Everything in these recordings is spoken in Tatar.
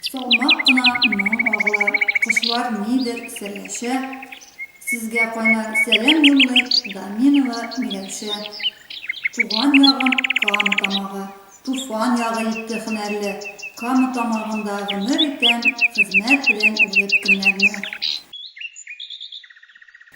Салмак кына моң агыла, кошлар нидер серләшә, Сезгә кайнар сәлам юллый Даминова Миләүшә. Туган ягым Кама тамагы, Туфан ягы итте һөнәрле, Кама тамагында гомер итәм, Хезмәт белән узып көннәрне.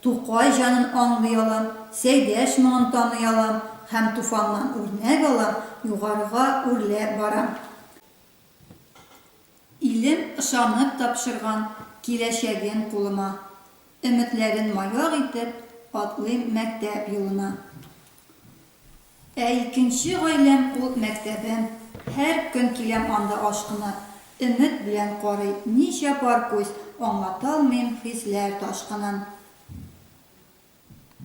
Тукай җанын аңлый алам, Сәйдәш моңын таный алам һәм Туфаннан үрнәк алам, югарыга үрләп барам. Илем ышанып тапшырган киләчәген кулыма, Өметләрен маяк итеп, атлыйм мәктәп юлына. Ә икенче гаиләм ул мәктәбем. Һәр көн киләм анда ашкынып. Өмет белән карый ничә пар күз, Аңлаталмыйм хисләр ташкынын.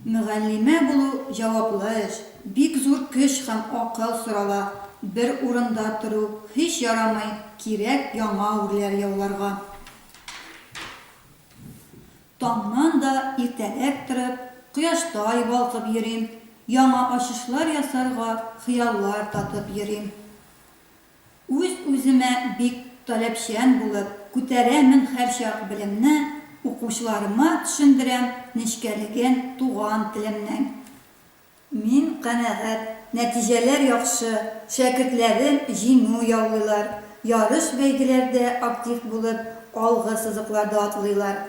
Мөгаллимә булу, җаваплы эш, Бик зур көч һәм акыл сорала. Бер урында тору һич ярамый, Кирәк яңа үрләр яуларга. Таңнан да иртәрәк торып, кояштай балкып йөрим, яңа ачышлар ясарга хыяллар татып йөрим. Үз-үземә бик таләпчән булып, күтәрәмен һәрчак белемне, укучыларыма төшендерәм нечкәлеген туган телемнең. Мин канәгать, нәтиҗәләр яхшы, шәкертләрем җиңү яулыйлар, ярыш-бәйгеләрдә актив булып, алгы сызыкларда атлыйлар.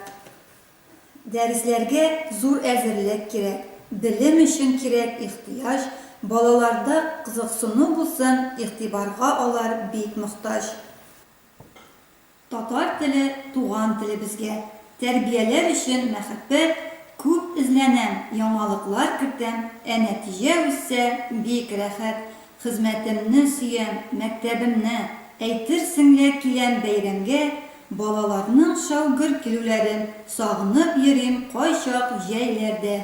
Дәресләргә зур әзерлек кирәк, белем өчен кирәк ихтыяҗ, балаларда кызыксыну булсын, игътибарга алар бик мохтаҗ. Татар теле туган телебезгә, тәрбияләр өчен мәхәббәт, күп эзләнәм, яңалыклар кертәм, ә нәтиҗә үссә, бик рәхәт, хезмәтемне сөям, мәктәбемне, әйтерсең лә киләм бәйрәмгә, балаларның шау гөр килүләрен сагынып йөрим кайчак җәйләрдә.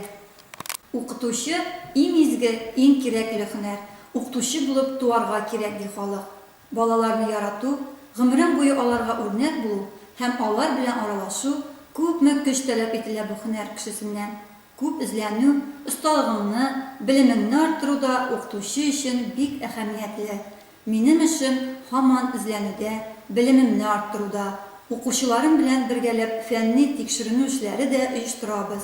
Укытучы, иң изге, иң кирәкле һөнәр, укытучы булып туарга кирәк ди халык. Балаларны ярату, гомерең буе аларга үрнәк булу һәм алар белән аралашу, күпме көч таләп ителә бу һөнәр кешесеннән. Күп эзләнү, осталыгыңны, белемеңне арттыру да укытучы өчен бик әһәмиятле. Минем эшем һаман эзләнүдә, белемемне арттыруда. Укучыларым белән бергәләп фәнни-тикшеренү эшләре дә оештырабыз.